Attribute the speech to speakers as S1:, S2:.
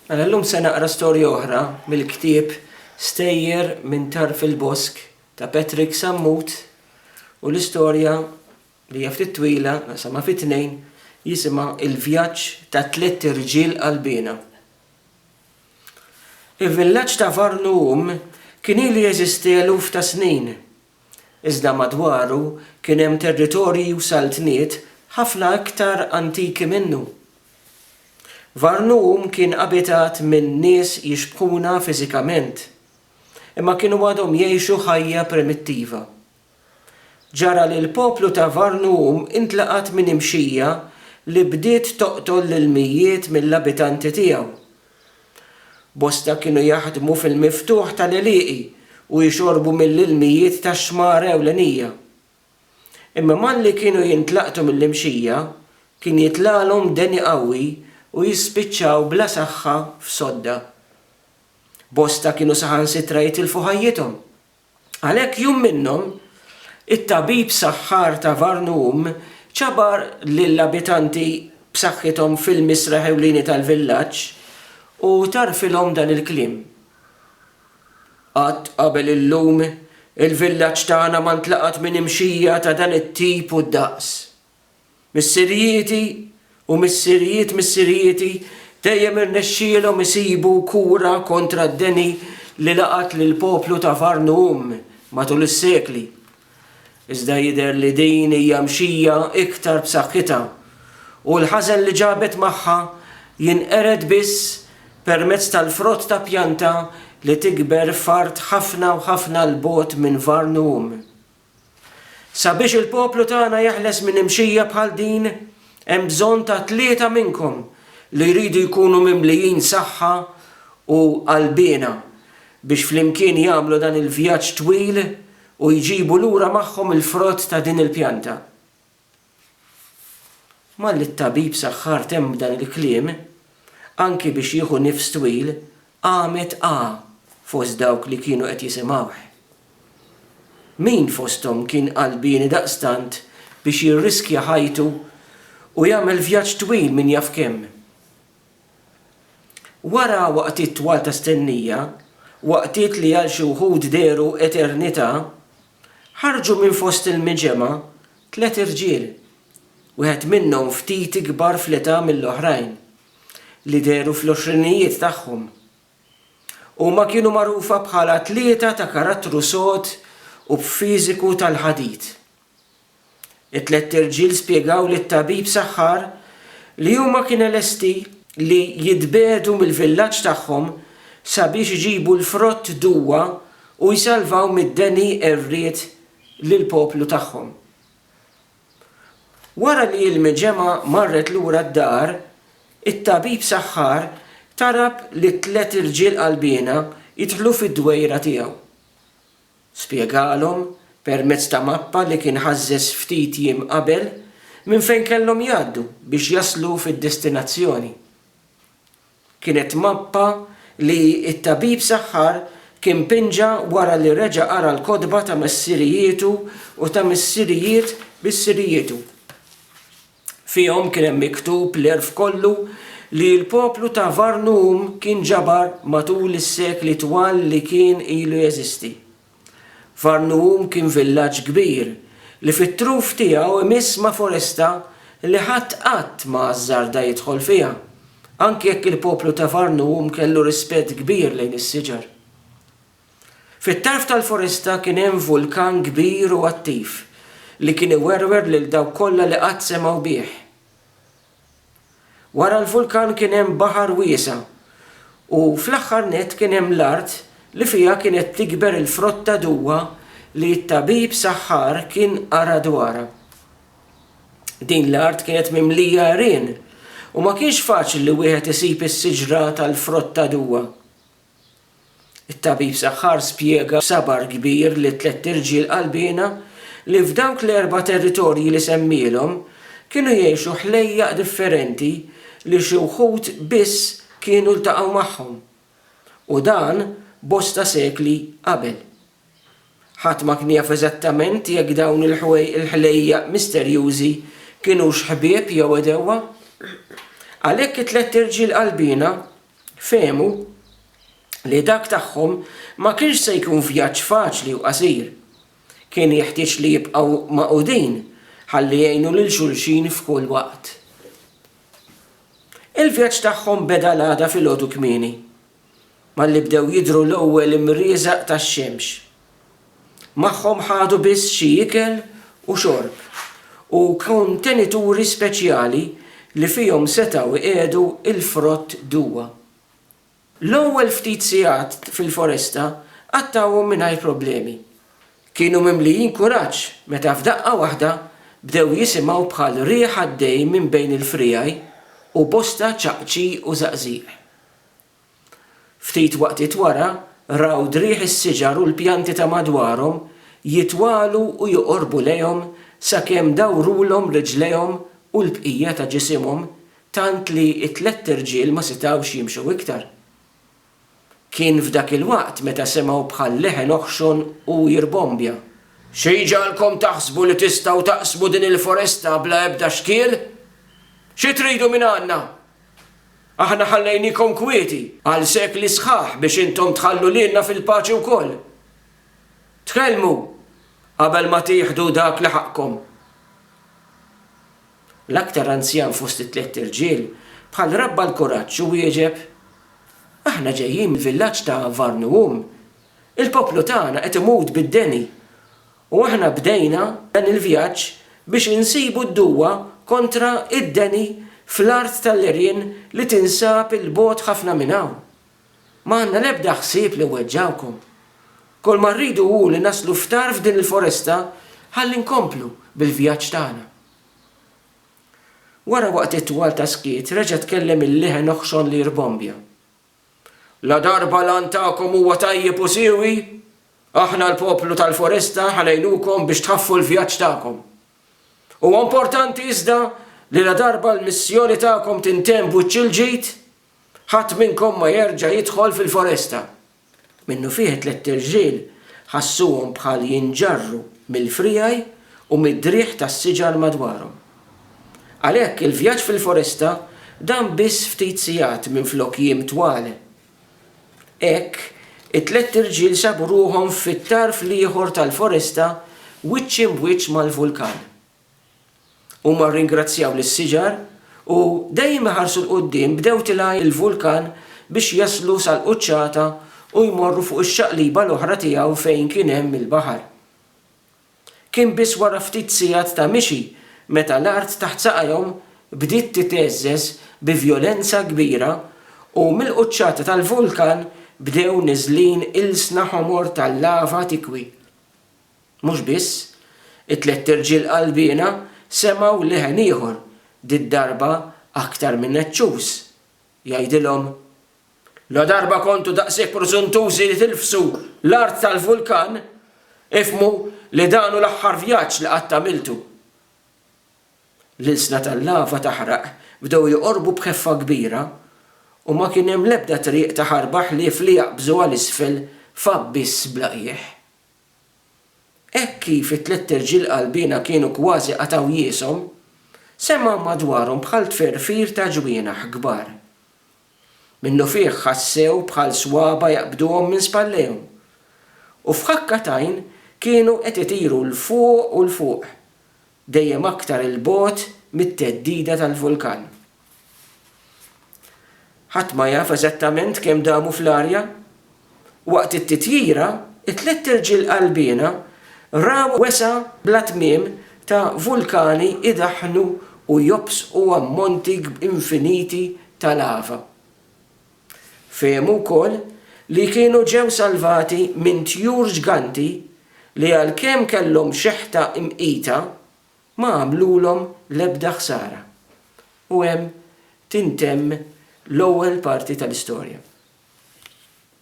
S1: Mela llum se naqra storja oħra mill-ktieb Stejjer minn Tarf il-Bosk ta' Patrick Sammut u l-istorja li hija ftit twila naqsamha fi tnejn jisimha Il-Vjaġġ ta' Tlett Irġiel Qalbiena. Il-villaġġ ta' Varnum kien ilu jeżisti eluf ta' snin. iżda madwaru kien hemm territorji u saltniet ħafna iktar antiki minnu. Varnum kien abitat minn nies jixbħuna fiżikament, imma kienu għadhom jgħixu ħajja primittiva. Ġara li l-poplu ta' Varnum intlaqat minn imxija li bdiet toqtol lill-mijiet mill-abitanti tiegħu Bosta kienu jaħdmu fil-miftuħ ta' l-għelieqi u jixorbu mill-ilmijiet tax-xmara ewlenija. Imma malli kienu jintlaqtu mill-imxija, kien jitlagħlhom deni qawwi u jispiċċaw bla saħħa f'sodda. Bosta kienu saħansitra jitilfu ħajjithom. Għalhekk jum minnhom, it-tabib saħħar ta' Varnum ċabar lill-abitanti b'saħħithom fil-misraħ ewlieni tal-villaġġ u tgħarrfilhom dan il-kliem, Qatt qabel illum, il-villaġġ tagħna ma ntlaqat minn imxija ta' dan it-tip u d-daqs. Missirijieti u missirijiet missirijieti dejjem irnexxielhom isibu kura kontra d-deni li laqat lill-poplu ta' Varnuum matul is-sekli. Iżda jidher li din hija mxija iktar b'saħħitha, u l-ħażen li ġabet magħha jinqered biss permezz tal-frott ta' pjanta li tikber f'art ħafna u ħafna 'l bogħod minn Varnuum. Sabiex il-poplu tagħna jeħles minn imxija bħal din, hemm bżonn ta' tlieta minnkom li jridu jkunu mimlijin saħħa u qalbiena biex flimkien jagħmlu dan il-vjaġġ twil u jġibu lura magħhom il-frott ta' din il-pjanta. Malli t-tabib saħħar temm b'dan il-kliem, anki biex jieħu nifs twil, qamet A. fost dawk li kienu qed jisimgħuh. Min fosthom kien qalbieni daqstant biex jirriskja ħajtu u jagħmel vjaġġ twil min jaf kemm? Wara waqtiet twal ta' stennija, waqtiet li għal xi wħud dehru eternità, Ħarġu minn fost il-miġemgħa tliet irġiel, wieħed minnhom ftit ikbar fl-età mill-oħrajn, li dehru fl-għoxrinijiet tagħhom. Huma kienu magħrufa bħala tlieta ta' karattru sod u b'fiżiku tal-ħadid. It-tlett irġiel spjegaw lit-tabib saħħar li huma kiene lesti li jitbiegħdu mill-villaġġ tagħhom sabiex iġibu l-frott Duwa u jsalvaw mid-deni għerried lill-poplu tagħhom. Wara li l-mġemgħa marret lura d-dar, it-tabib saħħar talab lit-tlett irġiel qalbiena jidħlu fid-dwejra tiegħu. Spjegalhom, permezz ta' mappa li kien ħażżeż ftit jiem qabel, minn fejn kellhom jgħaddu biex jaslu fid-destinazzjoni. Kienet mappa li t-tabib saħħar kien pinġa wara li reġa' qara l-kotba ta' missirijietu u ta' missirijiet missirijitu. Fihom kien hemm miktub l-għerf kollu li l-poplu ta' Varnum kien ġabar matul is-sekli twal li kien ilu jeżisti. Varnum kien villaġġ kbir li fit-truf tiegħu imiss ma' foresta li ħadd qatt ma ażżarda jidħol fiha, anki jekk il-poplu ta' Varnum kellu rispett kbir lejn is-siġar. Fit-tarf tal-foresta kien hemm vulkan kbir u attiv li kien iwerwer lil dawk kollha li qatt semgħu bih. Wara l-vulkan kien hemm baħar wiesa' u fl-aħħar nett kien hemm l-art li fiha kienet tikber il-frott ta' duwa li t-tabib saħħar kien qara dwarha. Din l-art kienet mimlija għerien u ma kienx faċli li wieħed isib is-siġra tal-frott ta' duwa. It-tabib saħħar spjega b'sabar kbir lit-tlett irġiel qalbiena li f'dawk l-erba' territorji li semmielhom kienu jgħixu ħlejjaq differenti li xi wħud biss kienu ltaqgħu magħhom, u dan bosta sekli qabel. Ħadd ma kien jaf eżattament jekk dawn il-ħlejjaq misterjużi kinux ħbieb jew għedewwa. Għalhekk it-tlett irġiel qalbiena fehmu li dak tagħhom ma kienx se jkun vjaġġ faċli u qasir. Kien jeħtieġ li jibqgħu magħqudin ħalli jgħinu lil xulxin f'kull waqt. Il-vjaġġ tagħhom beda l-għada filgħodu kmieni, malli bdew jidhru l-ewwel imrieżaq tax-xemx. Magħhom ħadu biss xi ikel u xorb u kontenituri speċjali li fihom setgħu jqiegħdu l-frott duwa. L-ewwel ftit sigħat fil-foresta qattgħuhom mingħajr problemi. Kienu mimlijin kuraġġ meta f'daqqa waħda bdew jisimgħu bħal riħ għaddej minn bejn il-friegħi u bosta ċaqċi u żaqżiq. Ftit waqtiet wara, raw driegħ is-siġar u l-pjanti ta' madwarhom jitwalu u joqorbu lejhom sakemm dawrulhom riġlejhom u l-bqija ta' ġisimhom tant li t-tlett irġiel ma setgħux jimxu iktar. Kien f'dak il-waqt meta semgħu bħal leħen oħxon u jirbombja. Xi jġagħalkom taħsbu li tistgħu taqsmu din il-foresta bla ebda xkiel? Xi tridu mingħandna? Aħna ħallejniekom kwieti għal sekli sħaħ biex intom tħallu lilna fil-paċi wkoll. Tkellmu qabel ma tieħdu dak li ħaqqkom. L-aktar anzjan fost it-tlett irġiel bħal rabba l-kuraġġ u wieġeb, Aħna ġejjin mill-villaġġ ta' Varnuwum. Il-poplu tagħna qed imut bid-deni U aħna bdejna dan il-vjaġġ biex insibu d-duwa kontra id-deni fl-art tal-għerien li tinsab 'il bogħod ħafna minn hawn. Ma għandna l-ebda ħsieb li nweġġgħukom. Kulma rridu hu li naslu f'tarf din il-foresta ħalli nkomplu bil-vjaġġ tagħna. Wara waqtiet twal ta' skiet reġa' tkellem il-liħen oħxon li jirbombja. Ladarba l-għan tagħkom huwa tajjeb u siewi, aħna l-poplu tal-Foresta ħa ngħinukom biex tħaffu l-vjaġġ tagħkom. Huwa importanti iżda li ladarba l-missjoni tagħkom tintemm b'wiċċ il-ġid, ħadd minnkom ma jerġa' jidħol fil-Foresta. Minnufih it-tlett irġiel ħassuhom bħal jinġarru mill-friegħi u mid-driegħ tas-siġar madwarhom. Għalhekk, il-vjaġġ fil-foresta dam biss ftit sigħat minflok jiem twal. Hekk, it-tlett irġiel sabu ruħhom fit-tarf l-ieħor tal-foresta wiċċ imb'wiċċ mal-vulkan. Huma rringrazzjaw lis-siġar u, dejjem iħarsu 'l quddiem, bdew tilgħin il-vulkan biex jaslu sal-quċċata u jmorru fuq ix-xaqliba l-oħra tiegħu fejn kien hemm il-baħar. Kien biss wara ftit sigħat ta' mixi meta l-art taħt saqajhom bdiet titgħeżżeż bi vjolenza kbira u mill-quċċata tal-vulkan bdew niżlin ilsna ħomor tal-lava tikwi. Mhux biss, it-tlett irġiel qalbiena semgħu leħen ieħor, did-darba aktar minn eċċuż, jgħidilhom, Ladarba kontu daqshekk prużuntużi li tilfsu l-art tal-vulkan, ifhmu li dan hu l-aħħar vjaġġ li qatt għamiltu. L-ilsna tal-lava taħraq bdew joqorbu b'ħeffa kbira, u ma kien hemm l-ebda triq ta' ħarba ħlief li jaqbżu għal isfel f'abbiss bla qiegħ. Hekk kif it-tlett irġiel qalbiena kienu kważi qatgħu jieshom, semgħu madwarhom bħal tferfir ta' ġwienaħ kbar. Minnufih ħassew bħal swaba' jaqbduhom minn spallejhom, u f'ħakka t'għajn kienu qed itiru 'l fuq u 'l fuq, dejjem aktar 'il bogħod mit-theddida tal-vulkan. Ħadd ma jaf eżattament kemm damu fl-arja. Waqt it-titjira, it-tliet irġiel qalbiena raw wesgħa bla tmiem ta' vulkani jdaħħnu u jobsqu ammonti infiniti ta' lava. Fehmu wkoll li kienu ġew salvati minn tjur ġganti li għalkemm kellhom xeħta mqita, ma għamlulhom l-ebda ħsara. U hemm tintemm l-ewwel parti tal-istorja.